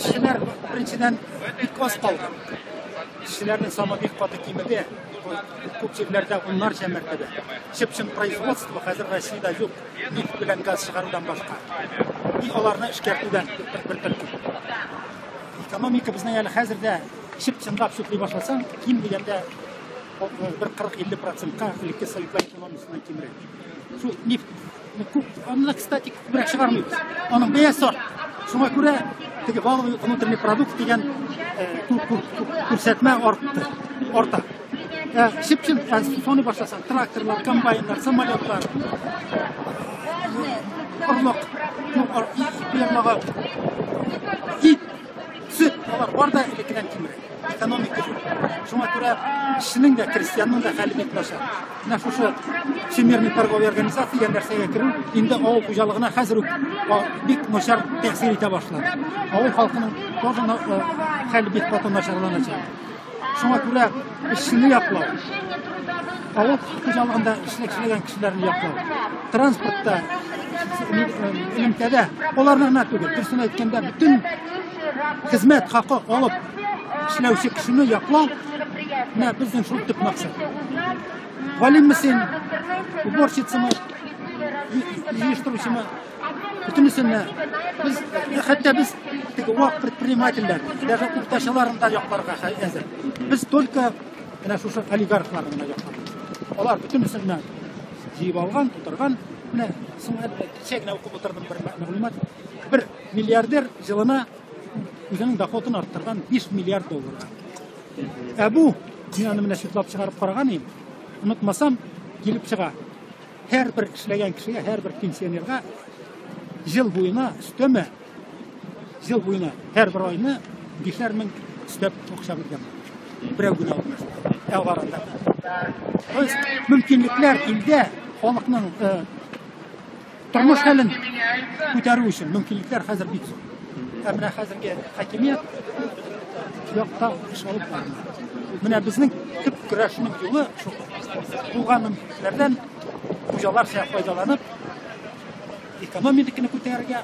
Кешеләр беренчедән бик аз калды. Кешеләрнең саны бик каты кимеде. Күп җирләрдә уннарча мәртәбә. Чып-чын производство хәзер Россиядә юк. Нефть белән газ чыгарудан башка. И аларны эшкәртүдән бер төркем. Экономика безнең әле хәзер дә чып-чынлап сүкли башласаң, ким дигәндә бер 40-50 процентка элекке советлар экономикасына кимрәк. Шул нефть Күп, аны да, кстати, күбрәк чыгармыйбыз. Аның бәя сорт. Шуңа күрә теге валовый внутренний продукт дигән күрсәтмә артты. Арта. Шипшин, соны башласаң, тракторлар, комбайннар, самолетлар, орлык, фермага, ит, Сөт, алар бар да элеккедән кимрәк. Экономика юк. Шуңа күрә кешенең дә, крестьянның да хәле бик начар. Менә шушы Всемирный торговый организация дигән нәрсәгә керү инде авыл хуҗалыгына хәзер үк бик начар тәэсир итә башлады. Авыл халкының тоже хәле бик каты начарланачак. Шуңа күрә эшчене яклау, авыл хуҗалыгында эшләгән кешеләрне яклау, транспортта, элемтәдә аларны гына түгел, дөресен әйткәндә, бөтен хезмәт хакы алып эшләүче кешене яклау менә безнең шул төп максат. Галимме син, уборщицамы, җыештыручымы? Бөтенесенә без хәтта без теге вак предпринимательләр, даже уртачаларын да якларга әзер. Без только менә шушы олигархларны гына якларбыз. Алар бөтенесенә җыеп алган, тутырган. Менә соңга кичә генә укып утырдым бер мәгълүмат. Бер миллиардер җылына үзенең доходын арттырган 5 миллиард долларга. Ә бу, мин аны менә читлап чыгарып караган идем, онытмасам, килеп чыга. Һәрбер эшләгән кешегә, һәрбер пенсионерга ел буена өстәмә, ел буена һәрбер айны бишәр мең өстәп акча биргән. Берәү генә алмасын. Ә арада. То есть мөмкинлекләр илдә халыкның тормыш хәлен күтәрү өчен мөмкинлекләр хәзер бик зур. Ә менә хәзерге хакимият якта эш алып бармый. Менә безнең төп көрәшнең юлы шул. Булган мөмкинлекләрдән хуҗалар файдаланып экономиканы күтәрергә